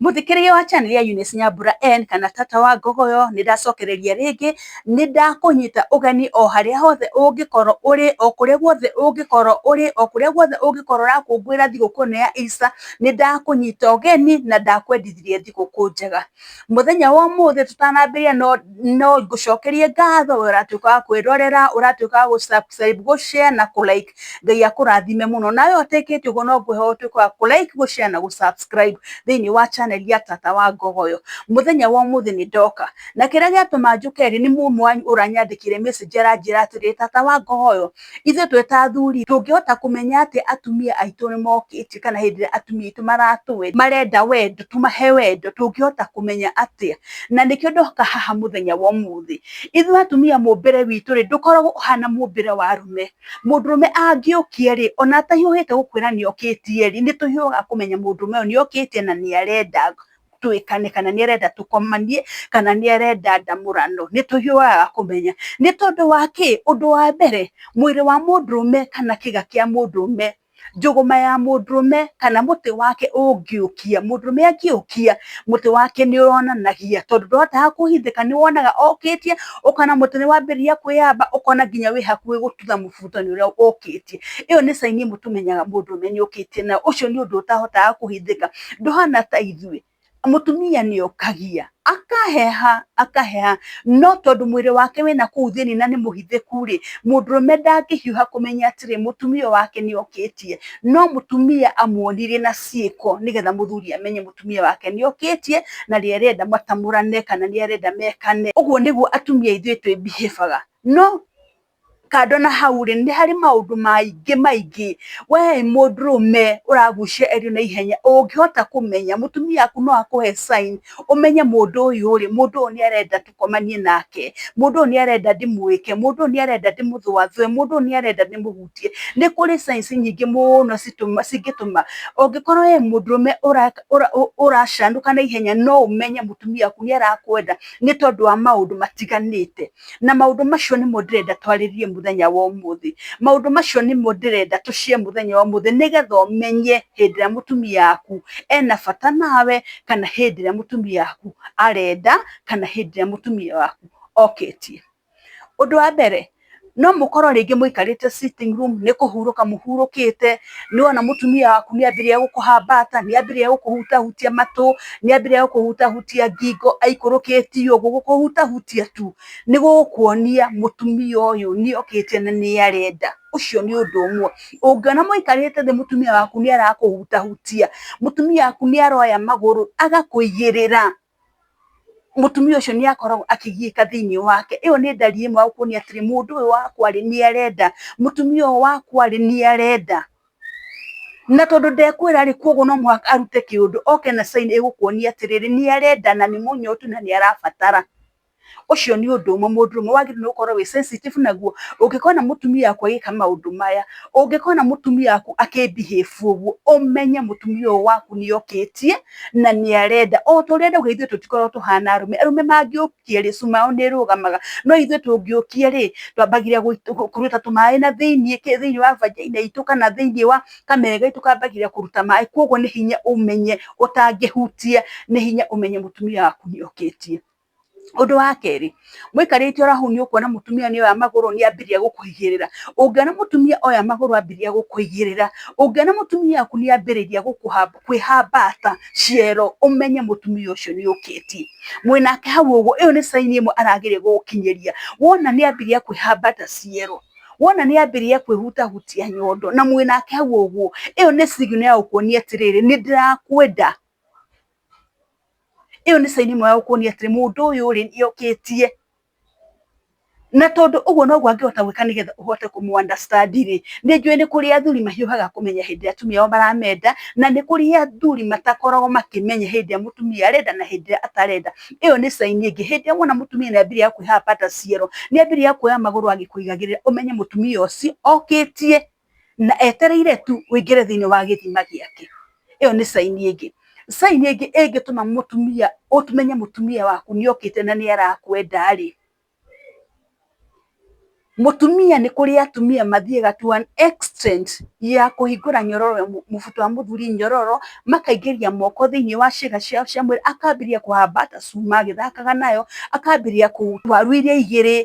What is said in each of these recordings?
Mũthikĩria wa channel ya Eunice Nyambura N kana tata wa ngogoyo nĩ ndacokereria rĩngĩ nĩ ndakũnyita ũgeni o harĩa hothe ũngĩkorwo ũrĩ o kũrĩa guothe ũngĩkorwo ũrĩ o kũrĩa guothe ũngĩkorwo ũrakũngũĩra thigũkũ ĩno ya Easter nĩ ndakũnyita ũgeni na ndakwendithirie thigũkũ njega mũthenya wa ũmũthĩ tũtanambĩrĩria no, no ngũcokerie ngatho we ũratuĩka wa kwĩrorera ũratuĩka wa gũ subscribe gũ share na kũ like ngai akũrathime mũno nawe ũtekĩte ũguo no ngwĩhoya ũtuĩke wa kũ like gũ share na gũ subscribe thĩinĩ wa channel ya tata wa ngogoyo mũthenya wa ũmũthĩ nĩ ndoka na kĩrĩa gĩatũma njũke rĩ nĩ mũmwe wanyu ũranyandĩkire message aranjĩra atĩrĩ tata wa ngogoyo ithuĩ twĩ ta athuri tũngĩhota kũmenya atĩ atumia aitũ nĩ mokĩte kana hĩndĩ ĩrĩa atumia aitũ maratwenda marenda wendo tũmahe wendo tũngĩhota kũmenya atĩa na nĩkĩo ndoka haha mũthenya wa ũmũthĩ ithuĩ atumia mũmbĩre witũ rĩ ndũkoragwo ũhana mũmbĩre wa arũme mũndũrũme angĩũkia rĩ, ona atahiũhĩte gũkwĩra nĩ okĩtie rĩ, nĩ tũhiũhaga kũmenya mũndũrũme ũyũ nĩ okĩtie na nĩ arenda twĩkane, kana nĩ arenda tũkomanie, kana nĩ arenda ndamũrano. Nĩ tũhiũhaga kũmenya. Nĩ tondũ wa kĩ? Ũndũ wa mbere, mwĩrĩ wa mũndũrũme kana kĩga kĩa mũndũrũme njũgũma ya mũndũrũme kana mũtĩ wake ũngĩũkia, mũndũrũme angĩũkia mũtĩ wake nĩ wonanagia tondũ ndahotaga kũhithĩka nĩ wonaga okĩtie ũkona mũtĩ nĩ wambĩrĩria kwĩyamba ũkona nginya wĩ hakuhĩ gũtutha mũbuto nĩ ũrĩa ũkĩtie. Ĩyo nĩ sign ĩmwe tũmenyaga mũndũrũme nĩ okĩtie na ũcio nĩ ũndũ ũtahotaga kũhithĩka. Ndũhana ta ithuĩ mũtumia nĩ okagia akaheha akaheha no tondũ mwĩrĩ wake wĩ na kũu thĩinĩ na nĩ mũhithĩku rĩ mũndũrũme ndangĩhiũha kũmenya atĩrĩ mũtumia ũyũ wake nĩ okĩtie no mũtumia amuonirie na ciĩko nĩgetha mũthuri amenye mũtumia wake nĩ okĩtie na nĩ arenda matamũrane kana nĩ arenda mekane ũguo nĩguo atumia ithuĩ twĩ behave aga no kando na hau rĩ nĩ harĩ maũndũ maingĩ maingĩ we mũndũrũme ũragucia erio na ihenya ũngĩhota kũmenya mũtumia waku no akũhe sign ũmenye mũndũ ũyũ rĩ mũndũ ũyũ nĩ arenda tũkomanie nake mũndũ ũyũ nĩ arenda ndĩmwĩke mũndũ ũyũ nĩ arenda ndĩmũthũathũe mũndũ ũyũ nĩ arenda ndĩmũhutie nĩ kũrĩ signs nyingĩ mũno cingĩtũma ũngĩkorwo we mũndũrũme ũracanũka na ihenya no ũmenye mũtumia waku nĩ arakwenda nĩ tondũ wa maũndũ matiganĩte. na maũndũ macio nĩmo ndĩrenda twarĩrie mũthenya wa ũmũthĩ maũndũ macio nĩmo ndĩrenda tũcie mũthenya wa ũmũthĩ nĩgetha ũmenye hĩndĩ ĩrĩa mũtumia waku ena bata nawe kana hĩndĩ ĩrĩa mũtumia waku arenda kana hĩndĩ ĩrĩa mũtumia waku okĩtie ũndũ wa mbere no mũkorwo rĩngĩ mũikarĩte sitting room nĩ kũhurũka mũhurũkĩte nĩ wona mũtumia waku nĩ ambĩrĩria gũkũhambata nĩ ambĩrĩria gũkũhutahutia matũ nĩ ambĩrĩria gũkũhutahutia ngingo aikũrũkĩtie ũguo gũkũhutahutia tu nĩ gũkuonia mũtumia ũyũ nĩ okĩte na nĩ arenda ũcio nĩ ũndũ ũmwe ũngĩona mũikarĩte thĩ mũtumia waku nĩ arakũhutahutia mũtumia waku nĩ aroya magũrũ agakũigĩrĩra. mũtumia ũcio nĩ akoragwo akĩgiĩka thĩinĩ wake. ĩyo nĩ ndari ĩmwe ya kuonia atĩrĩ mũndũ ũyũ wakwa rĩ nĩ arenda, mũtumia ũyũ wakwa rĩ nĩ arenda. Na tondũ ndekwĩra rĩ koguo no mũhaka arute kĩũndũ oke na sign ĩgũkuonia atĩrĩrĩ nĩ arenda na nĩ mũnyotu na nĩ arabatara. Ũcio nĩ ũndũ ũmwe mũndũ ũmwe wagĩrĩirwo gũkorwo wĩ sensitive naguo. Ũngĩkona mũtumia waku agĩka maũndũ maya, ũngĩkona mũtumia waku akĩ behave ũguo, ũmenye mũtumia ũyũ waku nĩ okĩtie na nĩ arenda. O ta ũrĩa ndauga ithuĩ tũtikoragwo tũhana arũme, arũme mangĩũkia rĩ, su yao nĩ ĩrũgamaga. No ithuĩ tũngĩũkia rĩ, twambagĩrĩria kũruta tũmaĩ na thĩiniĩ kĩ, thĩiniĩ wa vagina itũ kana thĩiniĩ wa kamere gaitũ kambagĩrĩria kũruta maĩ. Kwoguo nĩ hinya ũmenye ũtangĩhutia, nĩ hinya ũmenye mũtumia waku nĩ okĩtie. Ũndũ wa kerĩ, mũikarĩte oro hau nĩ ũkuona mũtumia nĩ oya magũrũ nĩ ambĩrĩria gũkũigĩrĩra. Ũngĩona mũtumia oya magũrũ ambĩrĩria gũkũigĩrĩra, ũngĩona mũtumia waku nĩ ambĩrĩria kwĩhambata ciero ũmenye mũtumia ũcio nĩ okĩtie. Mwĩnake hau ũguo ĩyo nĩ sign ĩmwe arageria gũgũkinyĩria. Wona nĩ ambĩrĩria kwĩhambata ciero, wona nĩ ambĩrĩria kwĩhutahutia nyondo na mwĩnake hau ũguo, ĩyo nĩ signal ya gũkuonia atĩrĩrĩ nĩ ndĩrakwenda. ĩyo nĩ caini ĩmwe ya gũkuonia atĩrĩ mũndũ ũyũ rĩ nĩ okĩtie na tondũ ũguo noguo angĩhota gwĩka nĩgetha ũhote kũmũ understand rĩ nĩ njũĩ nĩ kũrĩ athuri mahiũhaga kũmenya hĩndĩ ĩrĩa atumia ao maramenda na nĩ kũrĩ athuri matakoragwo makĩmenya hĩndĩ ĩrĩa mũtumia arenda na hĩndĩ ĩrĩa atarenda ĩyo nĩ caini ĩngĩ hĩndĩ ĩrĩa wona mũtumia nĩ ambĩrĩria kwĩhamba ta ciero nĩ ambĩrĩria kuoya magũrũ agĩkũigagĩrĩra ũmenye mũtumia ũcio okĩtie na etereire tu ũingĩre thĩinĩ wa gĩthima gĩake ĩyo nĩ caini ĩngĩ caini ĩngĩ ĩngĩtũma mũtumia ũmenye mũtumia waku nĩ okĩte na nĩ arakwenda rĩ mũtumia nĩ kũrĩ atumia mathiaga to an extent ya kũhingũra nyororo mũbuto wa mũthuri nyororo makaingĩria moko thĩinĩ wa ciĩga ciao cia mwĩrĩ akambĩrĩria kũhambata cuma agĩthakaga nayo akambĩrĩria kũ waru iria igĩrĩ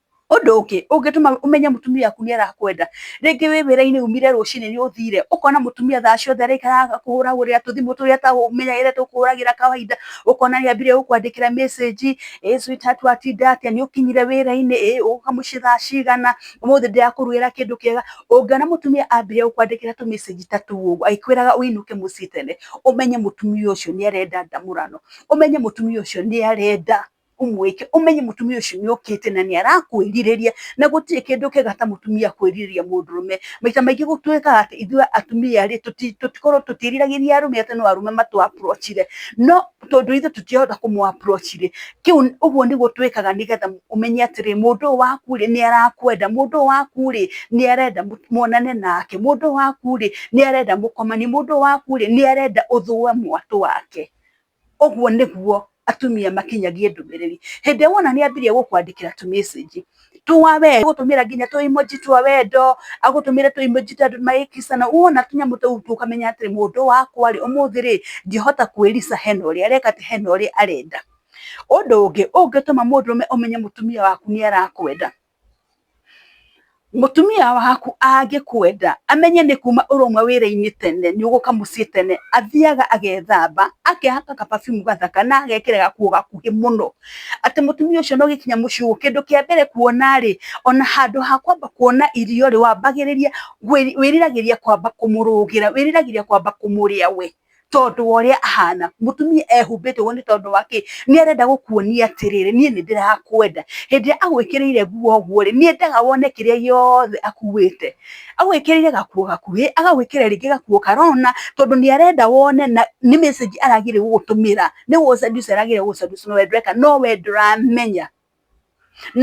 Ũndũ ũngĩ ũngĩtũma ũmenye mũtumia waku nĩ arakwenda, rĩngĩ wĩ wĩra-inĩ umire rũcinĩ nĩ ũthire, ũkona mũtumia thaa ciothe araikara agĩkũhũragĩra tũthimũ tũrĩa atamenyerete gũkũhũragĩra kawaida, ũkona nĩ ambire gũkwandĩkĩra message, ĩĩ sweetheart watinda atĩa, nĩ ũkinyire wĩra-inĩ, ĩĩ ũgoka mũciĩ thaa cigana, ũmũthĩ ndĩrakũrugĩra kĩndũ kĩega. Ũngĩona mũtumia ambire gũkwandĩkĩra tũ message ta tũu ũguo agĩkwĩraga ũinũke mũciĩ tene, ũmenye mũtumia ũcio nĩ arenda ndamũrano, ũmenye mũtumia ũcio nĩ arenda ũmwĩke ũmenye mũtumia ũcio nĩ okĩte na nĩ arakwĩrirĩria na gũtirĩ kĩndũ kĩega ta mũtumia kwĩrirĩria mũndũrũme. Maita maingĩ gũtuĩkaga atĩ ithuĩ atumia rĩ tũtikoragwo tũtiĩriragĩria arũme atĩ no arũme matũ approach re no tondũ ithuĩ tũtirahota kũmũ approach rĩ kĩu ũguo nĩguo twĩkaga nĩgetha ũmenye atĩrĩ mũndũ ũyũ waku rĩ nĩ arakwenda, mũndũ ũyũ waku rĩ nĩ arenda muonane nake, mũndũ ũyũ waku rĩ nĩ arenda mũkomanie, mũndũ ũyũ waku rĩ nĩ arenda ũthũe mwatũ wake. ũguo nĩguo atumia makinyagie ndũmĩrĩri. Hĩndĩ ĩrĩa wona nĩ ambĩrĩria gũkwandĩkĩra tũ message twa wendo, agũtũmĩra nginya tũ emoji twa wendo, agũtũmĩre tũ emoji ta andũ magĩ kiss ana, wona tũnyamũ tũu ũkamenya atĩrĩ mũndũ wakwa rĩ, ũmũthĩ rĩ, ngĩhota kwĩricaa hena ũrĩa areka atĩ, hena ũrĩa arenda. Ũndũ ũngĩ ũngĩtũma mũndũrũme ũmenye mũtumia waku nĩ arakwenda, mutumia waku angĩkwenda amenye nĩ kuma ũrũmwe wĩra-inĩ tene nĩ ũgũka mũciĩ tene athiaga agethamba akehaka kababimu gathaka na agekĩra gakuo gakuhĩ mũno atĩ mũtumia ũcio no gĩkinya mũciĩ ũguo kĩndũ kĩa mbere kuona rĩ ona handũ ha kwamba kuona irio rĩ wambagĩrĩria wĩriragĩria kwamba kũmũrũgĩra wĩriragĩria kwamba kũmũrĩa we tondu wa uria ahana mutumia ehumbite uguo ni tondu wa ki ni arenda gukuonia atiriri nie ni ndirakwenda hindi ya agwikirire nguo uguo ri ni endaga wone kiria giothe akuwite agwikirire gakuo gakuhi agagwikira ringi gakuo karona tondu ni arenda wone na ni message aragire gugutumira ni gu seduce aragire gugu seduce no we ndureka no we nduramenya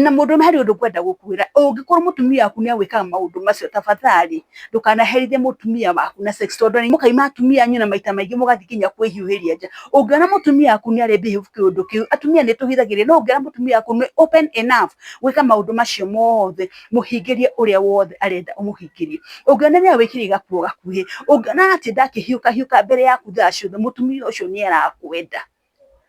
na mũndũ harĩ ũndũ ngwenda gũkwĩra ũngĩkorwo mũtumia waku nĩ agwĩkaga maũndũ macio tafadhali ndũkanaherithie mũtumia waku na sex tondũ nĩ mũkaima atumia anyu na maita maingĩ mũgathiĩ nginya kwĩhiũhĩria nja ũngĩona mũtumia waku nĩ arĩ behave kĩũndũ kĩu atumia nĩ tũhithagĩria no ũngĩona mũtumia waku nĩ open enough gwĩka maũndũ macio mothe mũhingĩrie ũrĩa wothe arenda ũmũhingĩrie ũngĩona nĩ agwĩkĩra igakuo gakuhĩ ũngĩona atĩ ndakĩhiũka hiũka mbere yaku thaa ciothe mũtumia ũcio nĩ arakwenda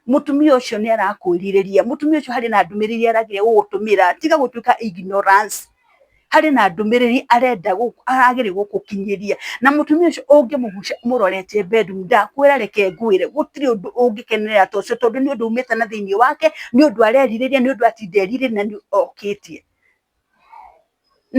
mutumia ucio ni arakwiriria mutumia ucio hari na ndumiriri aragira gugutumira tiga gutuika ignorance hari na ndumiriri arenda aragire gugukinyiria na mutumia ucio ungimugucia murorete bedroom ndakwira reke ngwire gutiri undu ungikenerera to ucio tondu ni undu umite na thiini wake ni undu areririria ni undu atinderirire na ni okitie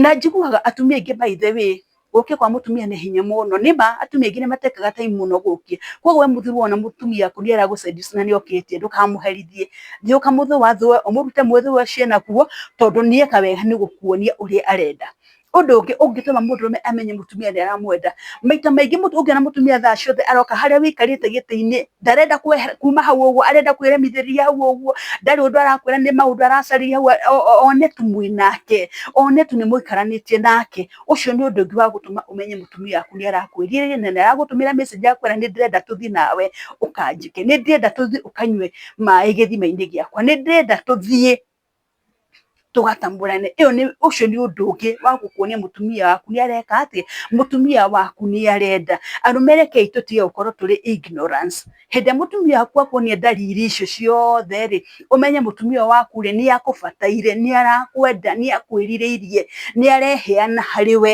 na njiguaga atumia aingĩ by the way gũkĩa kwa mũtumia nĩ hinya mũno nĩ ma atumia aingĩ nĩ matekaga time mũno gũkĩa koguo we mũthuri wona mũtumia waku nĩ aragũ seduce na nĩ okĩtie ndũkamũherithie thiĩ ũkamũthĩ wathũe ũmũrute mũthĩ ũcio enaguo tondũ nĩ eka wega nĩ gũkuonia ũrĩa arenda. Ũndũ ũngĩ ũngĩtũma mũndũrũme amenye mũtumia nĩ aramwenda maita maingĩ ũngĩona mũtumia thaa ciothe aroka harĩa ũikarĩte gĩtĩ-inĩ ndarenda kuma hau ũguo arenda kwĩremithĩria hau ũguo ndarĩ ũndũ arakwĩra nĩ maũndũ aracarĩria hau one tu mwĩ nake one tu nĩ mũikaranĩtie nake ũcio nĩ ũndũ ũngĩ wa gũtũma ũmenye mũtumia waku nĩ arakwĩrira rĩrĩ na nĩ aragũtũmĩra message akwĩra nĩ ndĩrenda tũthiĩ nawe ũkanjĩke nĩ ndĩrenda tũthiĩ ũkanyue maĩ gĩthima-inĩ gĩakwa nĩ ndĩrenda tũthiĩ tũgata mũrane ĩyo nĩ ũcio nĩ ũndũ ũngĩ wa gũkuonia mũtumia waku nĩ areka atĩ, mũtumia waku nĩ arenda. Arũme rekei tũtige gũkorwo tũrĩ ignorance. Hĩndĩ ĩrĩa mũtumia waku akuonia ndariri icio ciothe rĩ, ũmenye mũtumia ũyũ waku rĩ, nĩ akũbataire, nĩ arakwenda, nĩ akwĩrirĩirie, nĩ areheana harĩ we.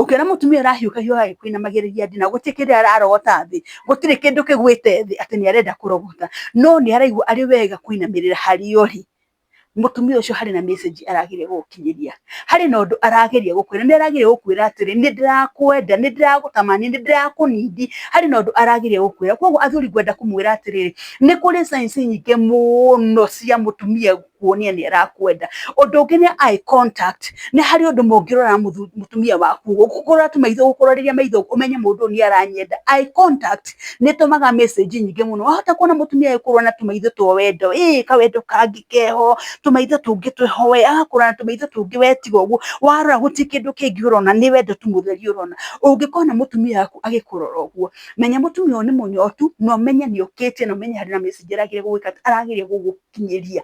Ũkĩona mũtumia ũrahiũkahio agĩkũinamagĩrĩria ndina, gũtirĩ kĩndũ ararogota thĩ, gũtirĩ kĩndũ kĩgwĩte thĩ atĩ nĩ arenda kũrogota, no nĩ araigua arĩ wega kũinamĩrĩra harĩa ũrĩ, mũtumia ũcio harĩ na message arageria gũgũkinyĩria, harĩ na ũndũ arageria gũkwĩra, nĩ arageria gũkwĩra atĩrĩ, nĩ ndĩrakwenda, nĩ ndĩragũtamania, nĩ ndĩrakũnindi, harĩ na ũndũ arageria gũkwĩra. Koguo athuri ngwenda kũmwĩra atĩrĩrĩ, nĩ kũrĩ signs nyingĩ mũno cia mũtumia kuonia nĩ arakwenda ũndũ ũngĩ nĩ eye contact nĩ harĩ ũndũ mũngĩrora mũthu- mũtumia waku gũkũrora tu maitho gũkũrorĩria maitho ũmenye mũndũ ũyũ nĩ aranyenda eye contact nĩ ĩtũmaga message nyingĩ mũno wahota kuona mũtumia agĩkũrora na tũmaitho twa wendo ĩĩ kawendo kangĩ keho tũmaitho tũngĩ twĩho we agakũrora na tũmaitho tũngĩ we tiga ũguo warora gũtirĩ kĩndũ kĩngĩ ũrona nĩ wendo tu mũtheri ũrona ũngĩkona mũtumia waku agĩkũrora ũguo menya mũtumia ũyũ nĩ mũnyotu na ũmenye nĩ okĩte na ũmenye harĩ na message aragĩrĩire gũgwĩka atĩ aragĩrĩire gũgũ kũmakinyĩria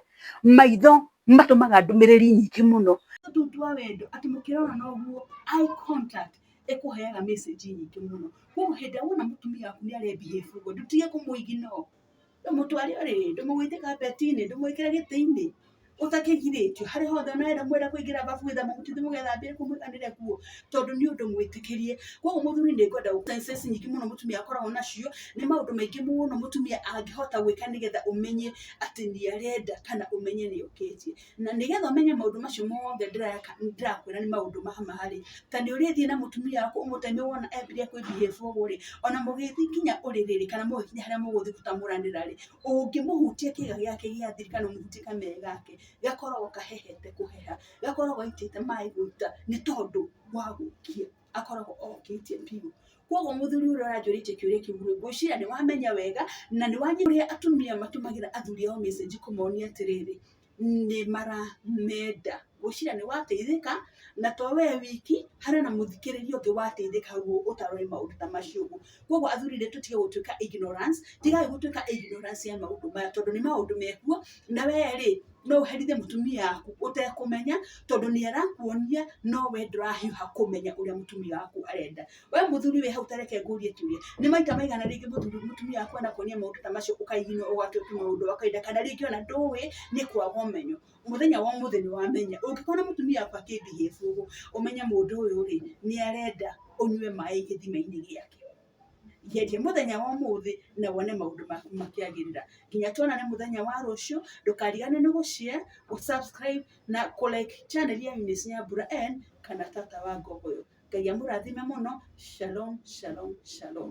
maitho matũmaga ndũmĩrĩri nyingĩ mũno tũu twa wendo atĩ mũkĩrora na ũguo eye contact ĩkũheaga message nyingĩ mũno koguo hĩndĩ ĩrĩa wona mũtumia waku nĩ arebehave ũguo ndũtige kũmũ ignore ndũmũtware ũrĩrĩ ndũmũgũithie kapeti-inĩ ndũmwĩkĩre gĩtĩ-inĩ ũtakĩgirĩtio harĩa hothe ũrenda kũingĩra bafu wĩthamba mũtwe mũgethambĩra kũu mũiganĩre kuo. tondũ nĩ ũndũ mwĩtĩkĩrie koguo mũthuri nĩ ngwenda sense nyingĩ mũno mũtumia akoragwo nacio nĩ maũndũ maingĩ mũno mũtumia angĩhota gwĩka nĩgetha ũmenye atĩ nĩ arenda kana ũmenye nĩ okĩtie na nĩgetha ũmenye maũndũ macio mothe ndĩreka ndĩrakwĩra nĩ maũndũ ma ma rĩ ta nĩ ũrĩthiĩ na mũtumia waku ũmũtare nĩ wona ambire kwĩ behave ũguo rĩ ona mũgĩthiĩ nginya ũrĩrĩ rĩ kana mũgĩkinya harĩa mũgũthiĩ gũtamũranĩra rĩ ũngĩmũhutia kĩga gĩake gĩa thiri kana ũmũhutie kamere gake gakoragwo kahehete kũheha. we akoragwo aitĩte maĩ gũita nĩ tondũ wa gũkia akoragwo okĩtie biũ koguo mũthuri ũrĩa ũranjũrĩtie kĩũria kĩu rĩ ngwĩciria nĩ wamenya wega na nĩ wanyita ũrĩa atumia matũmagĩra athuri ao message kũmonia atĩrĩrĩ nĩ maramenda ngwĩciria nĩ wateithĩka na to we wiki harĩ na mũthikĩrĩria ũngĩ wateithĩka ũtarĩ ũĩ maũndũ ta macio ũguo koguo athuri nĩ tũtige gũtuĩka ignorance tigai gũtuĩka ignorance ya maũndũ maya tondũ nĩ maũndũ mekuo na we rĩ no ũherithie mũtumia waku ũtekũmenya tondũ nĩ arakuonia no we ndũrahiũha kũmenya ũrĩa mũtumia waku arenda we mũthuri wĩ hau ta reke ngũrie kĩũria nĩ maita maigana rĩngĩ mũthuri mũtumia waku anakuonia maũndũ ta macio ũka ignore ũgatuĩka maũndũ ũkaida kana rĩngĩ ona ndũĩ nĩ kwaga ũmenyo mũthenya wa ũmũthĩ nĩ wamenya, ũngĩkona mũtumia waku akĩ behave ũguo, ũmenye mũndũ ũyũ rĩ, nĩ arenda ũnyue maĩ gĩthima-inĩ gĩake. Geria mũthenya wa ũmũthĩ na wone maũndũ maku makĩagĩrĩra. Nginya tuonane mũthenya wa rũciũ, ndũkariganĩrwo nĩ gũ share, gũ subscribe na kũ like channel ya Eunice Nyambura and kana Tata wa Ngũkũyũ. Ngai amũrathime mũno. Shalom, shalom, shalom.